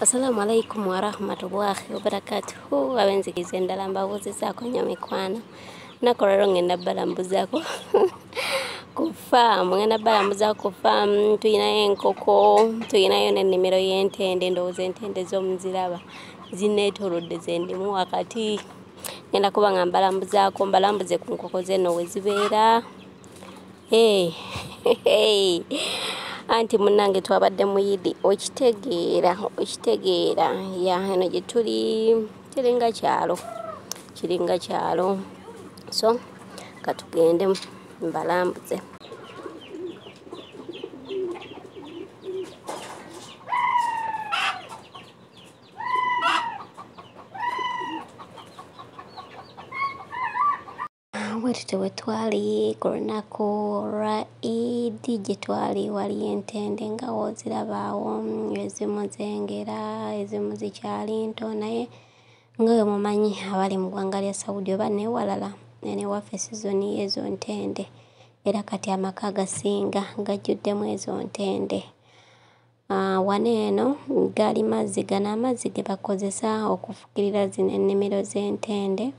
Assalamu alaikum warahmatullahi wabarakatuhu abenzikiza endala mbabuuzizaako nnyo mikwano nako leero ngenda balambuzaako ku faamu ngenda balambuzaako ku faamu tulinayo enkoko tulinayo n'ennimiro y'entende ndowooza entende z'omuziraba zinneetoolodde ze ndimu wakati ngenda kuba nga mbalambuzaako mbalambuze ku nkoko zeno we zibeera anti munnange twabadde muyidi okitegeera okitegeera ya eno gye tuli kiringa kyalo kiringa kyalo so katugende mbalambuze bwetutyo bwe twali ku lunaku lwa idi gye twali waliyo entende nga wozirabaawo ezimu zengera ezimu zikyali nto naye nga we mumanyi abali mu ggwanga lya saudi oba newalala enewaffe sizoni yeezo ntende era kati amaka agasinga gajjuddemu ezo ntende Wano eno gali mazzi, gano amazzi ge bakozesa okufukirira zino ennimiro z'entende,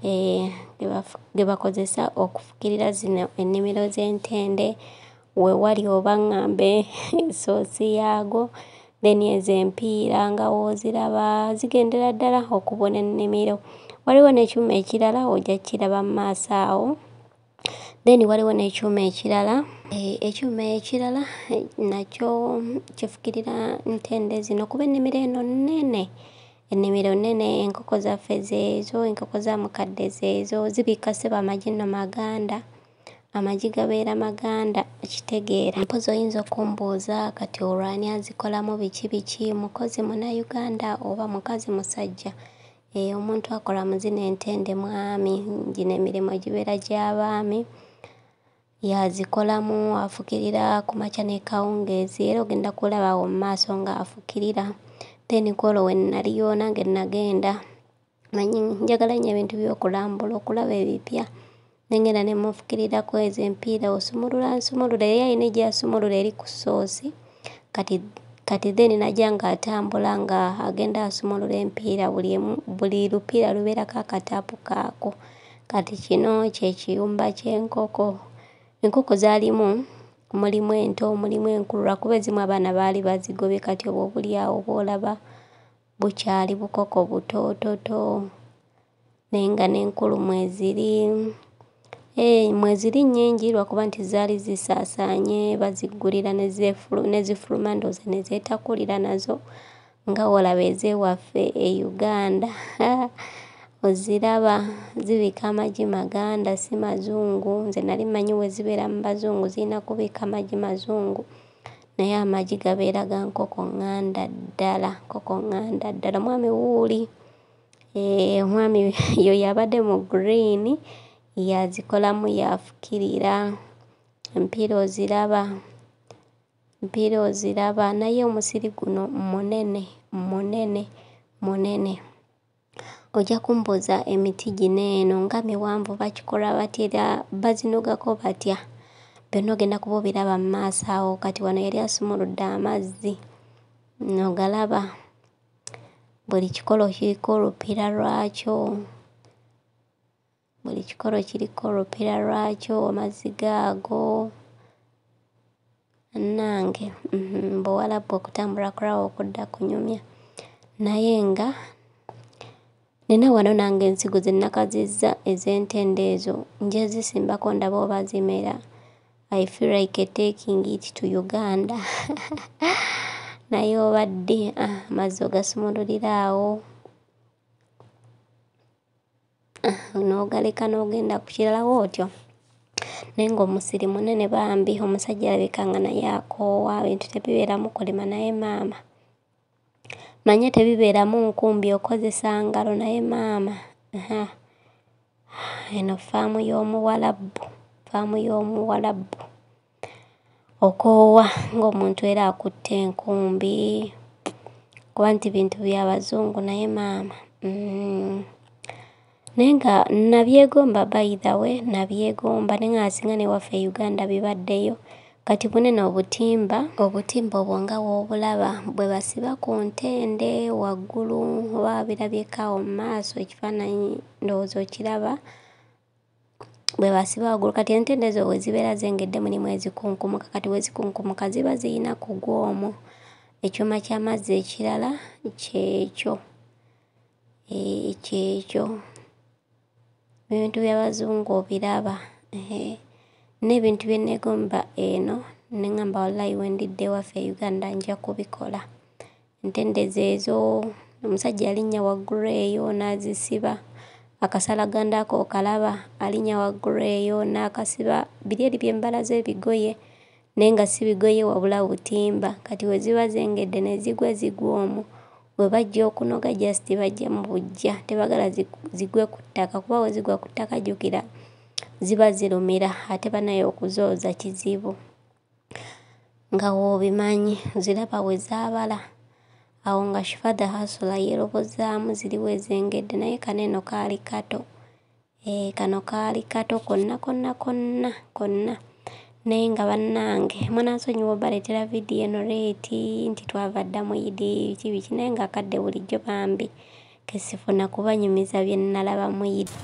eh, ge bafu, ge bakozesa okufukirira zino ennimiro z'entende, we wali oba ŋŋambe ensoozi yaago, then ezo empiira nga w'oziraba, zigendera ddala okubuna ennimiro. Waliwo n'ekyuma ekirala ojja kkiraba mu maaso awo. then waliwo n'ekyuma ekirala eh, ekyuma ekirala eh, nakyo kifukirira ntende zino kuba ennimiro eno nnene ennimiro nnene enkoko zaffe zeezo enkoko za mukadde zeezo zibikka sebo amagi no maganda amagi gabeera maganda okitegeera mpozi oyinza okumbuuza kati olwani azikolamu biki biki mukozi munayuganda oba mukazi musajja Eh, omuntu akola mu zino entende mwami gino emirimu gibeera gy'abaami yazikolamu afukirira ku makya n'ekawungeezi era ogenda kulaba awo mu maaso ng'afukirira then kwolwo we nnaliyo nange nnagenda manyi njagala nnyo ebintu by'okulambula okulaba ebipya nengenda nemufukiriraku ezo empiira osumulula nsumulula eri alina egyasumulula eri ku soosi kati kati then naja nga atambula nga agenda asumulula empiira buli emu buli lupiira lubeerako akataapu kaako kati kino kye kiyumba ky'enkoko enkoko zaalimu mulimu ento mulimu enkulu lwakuba ezimu abaana baali bazigobye kati obwo obulyawo bwolaba Bukyali bukoko butoototo naye nga n'enkulu mweziri. Eeh mweziri nnyingi lwa kuba nti zaali zisaasaanye baziggulira ne zeefulu ne zifuluma ndowooza ne zeetakulira nazo nga w'olaba ez'ewaffe e Uganda haa oziraba zibika amagi maganda si mazungu. Nze nali mmanyi we zibeera mu Bazungu zirina kubika magi mazungu Naye amagi gabeera ga nkoko nganda ddala nkoko nganda ddala omwami wuuli eh, omwami yo yabadde mu green yazikolamu yafukirira empiira oziraba empiira oziraba naye omusiri guno munene munene munene. Ojja kumbuuza emiti gino eno nga miwanvu bakikola batya era bazinogako batya? Byonna ogenda kuba obiraba mu maaso awo. Kati wano yali asumuludde amazzi, ogalaba? Buli kikolo kiriko olupiira lwakyo. Buli kikolo kiriko olupira lwakyo amazzi gaago bannange mm, buwalabu okutambula kulawo okudda kunyumya naye nga nina wano nange ensigo ze nnakazizza ez'entende ezo njezisimbako ndaba oba zimera i feel like taking it to uganda naye obadde ah, amazzi ogasumululira awo n'ogaleka n'ogenda ku kirala wootyo naye ng'omusiri munene bambi omusajja alabika nga naye akoowa ebintu tebibeeramu kulima naye maama manya tebibeeramu nkumbi okozesa ngalo naye maama ha eno ffaamu y'omuwalabu ffaamu y'omuwalabu. okoowa ng'omuntu era akutte enkumbi kuba nti bintu bya bazungu naye maama mm. naye nga nabyegomba by the way nabyegomba naye nga singa newaffe e uganda bibaddeyo kati bunene obutimba obutimba obwo nga woobulaba bwe basiba ku ntende waggulu oba wabirabyeko awo mu maaso ekifaananyi ndowooza okiraba bwe basiba waggulu kati entende ezo bwe zibeera zengedde mulimu ezikunkumuka kati bwe zikunkumuka ziba zirina kugwa omwo ekyuma ky'amazzi ekirala kyekyo ee kyekyo ebintu by'abazungu obiraba ee n'ebintu bye nneegomba eno ne ŋŋamba walayi we ndidda ewaffe e Uganda nja kubikola. Ntende zeezo, omusajja yalinnya waggulu eyo n'azisiba, akasalaganda ako okalaba? Alinnya waggulu eyo n'akasiba, biri eri bye mbala z'ebigoye naye nga si bigoye wabula butimba, kati we ziba zengedde ne zigwa zigwa omwo we bajja okunoga just bajja mu buggya, tebagala zigwe ku ttaka kuba we zigwa ku ttaka jjukira ziba zirumira ate banaye okuzooza kizibu. nga w'obimanyi ziraba we zaabala awo nga shifa the hasula yeerobozaamu ziri we zengedde naye kano eno kaali kato ee kano kaali kato konna konna konna konna naye nga bannange munansonyiwa obaleetera vidiyo eno leeti nti twava dda mu idi biki biki naye nga akadde bulijjo bambi Ke sifuna kubanyumiza bye nnalaba mu Idi.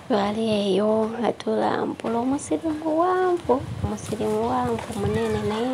twali eyo nga tulambula omusiri muwanvu omusiri muwanvu munene naye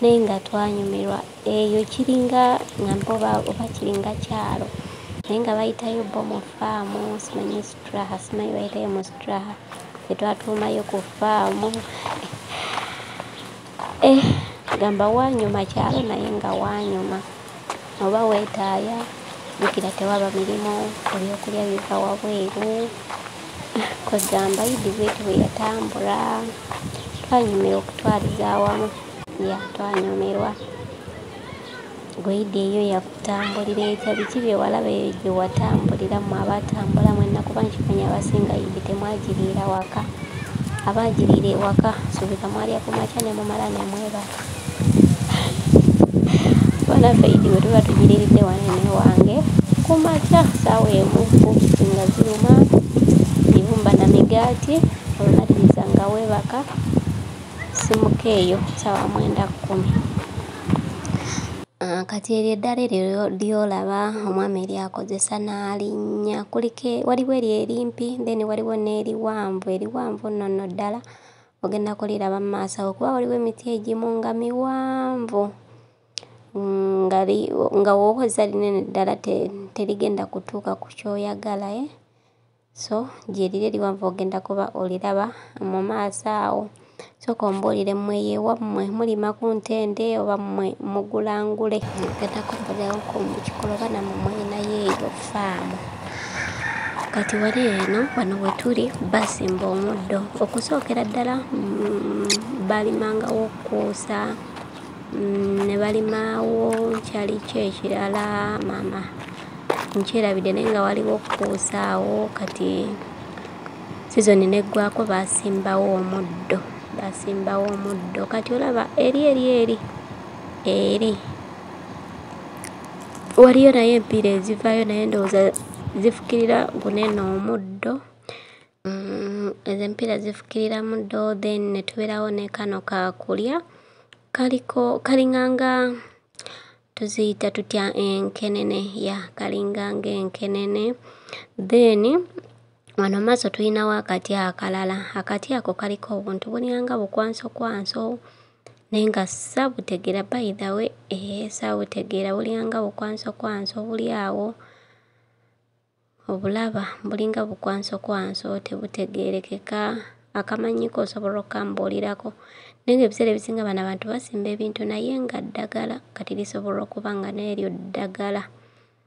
naye nga twanyumirwa eyo kiringa nga mpoba oba kiringa kyalo naye nga bayitayo bo mu faamu simanyi straha simanyi bayitayo mu straha etwatuumayo ku faamu eh, gamba wanyuma kyalo naye nga wanyuma oba wetaaya jukira tewaba mirimu ebyokulya biva wabweru kwegamba idi bweti bweyatambula twanyumira okutwaliza awamu ya twanyumirwa gweidi eyo yakutambulira etya biki byewalaba eyo gyewatambulira mu abatambula mwenna kuba nkimanya abasinga idi temwagiriira waka abagiriira ewaka subika mwalya kumakya nemumala nemwebaka banaffe idi bwe tuba tugiriridde wano eno ewange ku makya saawa emu obusi nga ziruma ibumba na migaati olumaliriza nga weebaka simuka eyo saawa mwenda kkumi ah, kati eryo eddala eryo lyolaba omwami eryakozesa n'alinnya kulike waliwo eryo erimpi then waliwo n'eriwanvu eriwanvu nno nno ddala ogenda kuliraba mu maaso awo kuba waliwo emiti egimu nga miwanvu nga nga wokozesa linene ddala terigenda kutuuka ku kyoyagala e eh? so gyeriri eriwanvu ogenda kuba oliraba mu maaso awo soka ombuulire mmwe yewammwe mulima ku ntende oba mmwe mugulangule ogenda kumbulirawo ku mukikoloba namwe mweyinayo eyo faamu kati wali eno wano wetuli basimba omuddo okusookera ddala mm, balimangawo okuusa mm, ne balimawo kyali kyo ekirala maama nkyerabidde naye nga waliwo okuusaawo kati sizoni neggwako basimbawo omuddo basimbawo omuddo kati olaba eri eri eri eri waliyo naye empiira ezivaayo naye ndowooza zifukirira guneno omuddo mm, ezo empiira zifukirira muddo then netubeerawo nekano kakulya kaliko kalinganga tuziyita tutya enkenene ya kalinganga enkenene then wano maaso tulinawo akati akalala akati ako kaliko obuntu bulinganga bukwanso kwanso Naye nga sabutegera by the way eh sabutegera bulinga bukwanso kwanso buli awo obulaba bulinga bukwanso kwanso tebutegerekeka akamanyiko osobola okambulirako naye nga ebiseera ebisinga bano abantu basimba ebintu naye nga ddagala kati lisobola okuba nga neryo ddagala.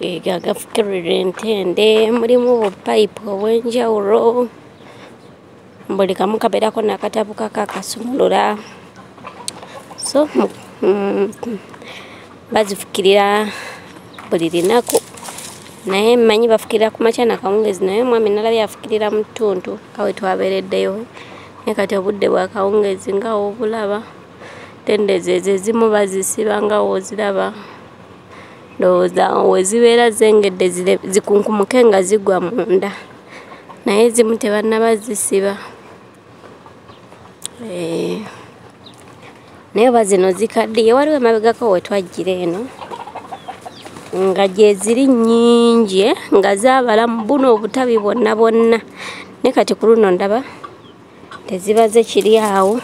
ega gafukirira entende mulimu obupayipu obw'enjawulo buli kamu kabeerako nakatabu kakakasumulula so mm, bazifukirira buli linaku naye mmanyi bafukirira ku makya nakawungezi naye omwami nalabye afukirira mu ttuntu kawe twabeereddeyo naye kati obudde bwakawungezi nga obulaba tende zezo ezimu bazisiba nga woziraba ndowooza wezibeera zengedde zikunkumuke nga zigwa munda naye ezimu tebannaba zisiba eh, naye oba zino zikaddiye waliwo emabegako wetwajjira eno nga gyeziri nnyingi eh, nga zaabala mu buno obutabi bwonna bwonna naye kati ku luno ndaba tezibaze kiri awo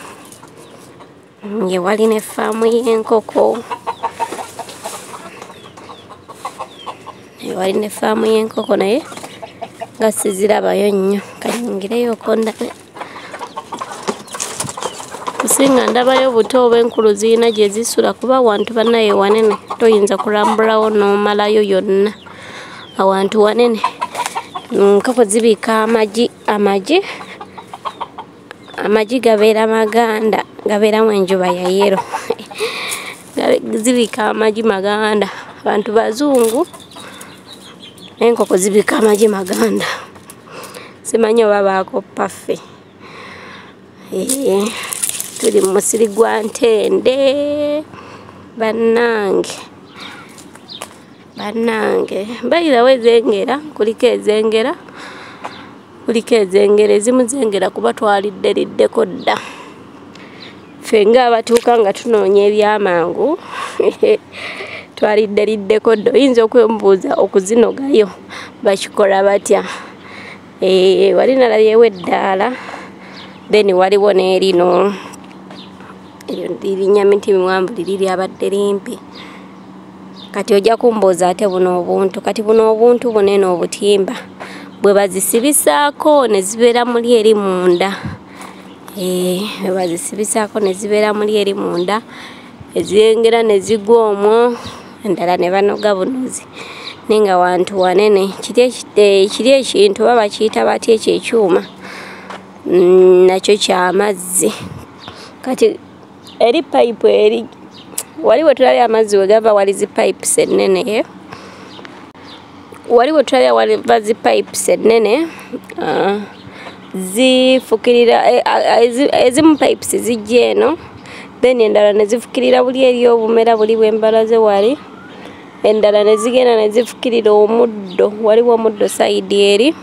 nge wali ne faamu y'enkoko wali ne faamu y'enkoko naye nga sizirabayo nnyo kanyingireyoko ndabe kusinga ndabayo buto oba enkulu zirina gye zisula kuba awantu banaye wanene toyinza kulambulawo n'omalayo yonna awantu wanene nkoko zibiika amagi amagi amagi gabeera maganda gabeeramu enjuba ya yero zibika amagi maganda abantu bazungu naye enkoko zibika amagi maganda simanyi oba baakoppa ffe eh, tuli mu musiri gwa ntende bannange bannange bayirawo ezengera kuliko ezengera kuliko ezengera ezimu zengera kuba twalidde liddeko dda ffe nga abatuuka nga tunoonya ebyamangu twalidde liddeko dda oyinza okwemubuuza okuzinogayo bakikola batya eh, wali nalabyewo eddaala then waliwo n'erino eryo lirinnya minti miwanvu liri lyabadde limpi kati ojja kumbuuza ate buno obuntu kati buno obuntu bunene obutimba bwe bazisibisaako ne zibeera muli eri munda eh, bwe bazisibisaako ne zibeera muli eri munda eziyengera ne zigwa omwo endala ne banoga bunuzi naye nga wantu wanene kiri eh, ekintu oba bakiyita batya ekyo ekyuma mm, nakyo kyamazzi kati eri payipu eri wali we tulabye amazzi we gava wali zi pipes ennene eh? wali we tulabye waliva zi pipes ennene ah, zifukirira eh, ah, ah, ezimu pipes zijja eno then endala ne zifukirira buli eri obumera buli bwembalaze wali endala ne zigenda ne zifukirira omuddo waliwo omuddo sayidi eri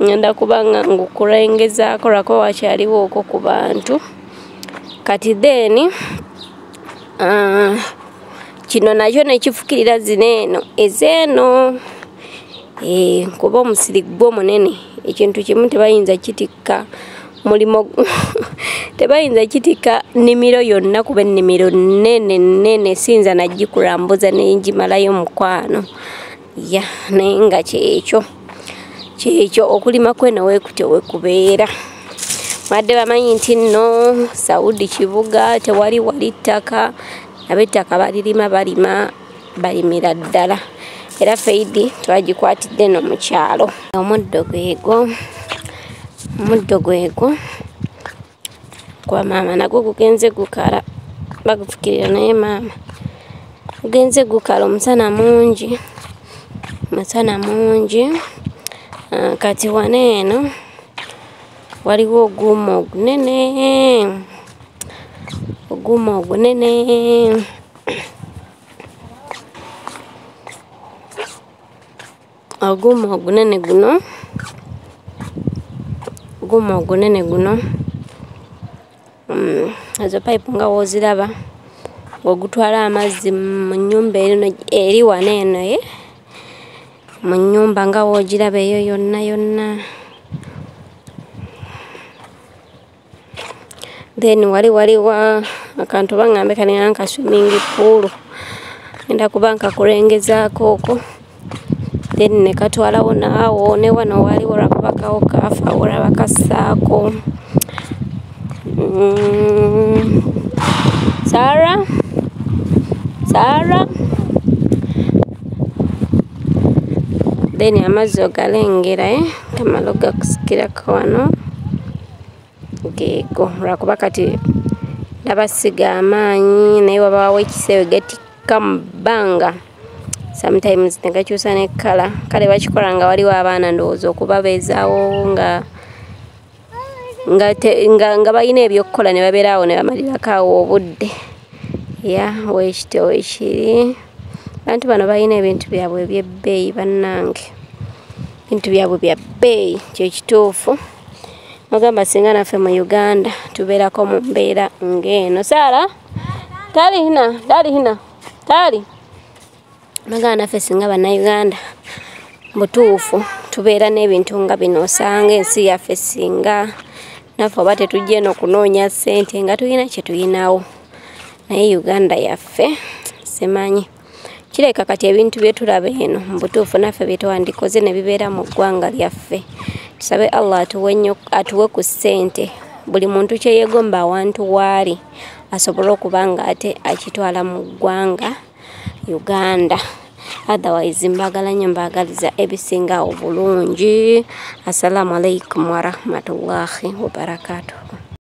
ngenda kubanga ngukulengezaako lwakuba wakyaliwo okwo ku bantu kati then uh, kino nakyo nekifukirira zino eno ezeeno e, eh, kuba omusiri gwo munene ekintu kimu tebayinza kitikka mulimo tebayinza kitikka nnimiro yonna kuba ennimiro nene nene siyinza nagikurambuza nenjimalayo mukwano ya naye nga kyekyo kyekyo okulima kwena wekutyo wekubeera badde bamanyi nti nno saudi kibuga tewali wali ttaka abettaka balirima balima balimira ddala era feidi twagikwatidde no mu kyalo omuddo gwego omuddo gwego kwa maama nagwo gugenze gukala bagufukirira naye maama gugenze gukala omusana mungi omusana mungi ah, kati wana eno waliwo oguuma ogunene oguuma ogunene oguuma ogunene guno oguuma ogunene guno mm, ezo pipe nga woziraba ng'ogutwala amazzi mu nnyumba erino eri wano eno ye mu nnyumba nga woogiraba eyo yonna yonna then wali waliwa akantu bangambe kanena nka swimming pool enda kuba nkakulengezaako oko then nekatwalawo naawo ne wano wali olwakubakawo kafa olaba kasaako mm. sara sara then amazzi ogalengera eh? tamala ogakusikirako wano geego lwakuba kati nabasiga amaanyi naye wabaawo ekiseewe gatikka mu bbanga sometimes negakyusa ne kala kale bakikola nga waliwo abaana ndowooza okubabeezaawo nga nga, te, nga, nga balina ebyokukola ne babeera awo ne bamalirako awo obudde ya wekityo wekiri bantu bano balina ebintu byabwe ebyebbeeyi bannange ebintu byabwe bya bbeeyi kyekituufu mugamba singa naffe mu uganda tubeerako mu mbeera ng'eno saara tali hina tali hina tali mugamba naffe singa bannauganda butuufu tubeera n'ebintu nga bino osanga ensi yaffe singa naffe oba tetujja eno kunoonya ssente nga tulina kye tulinawo naye uganda yaffe simanyi kireka kati ebintu byetulaba eno mubutuufu naffe byetwandikoze nebibeera mu ggwanga lyaffe tusabe allah atuwe ku ssente buli muntu kyeyegomba awantu waali asobole okuba nga ate akitwala mu ggwanga uganda otherwise mbagala nyo mbagaliza ebisinga obulungi assalamu alaikum warahmatullahi wabarakatuhu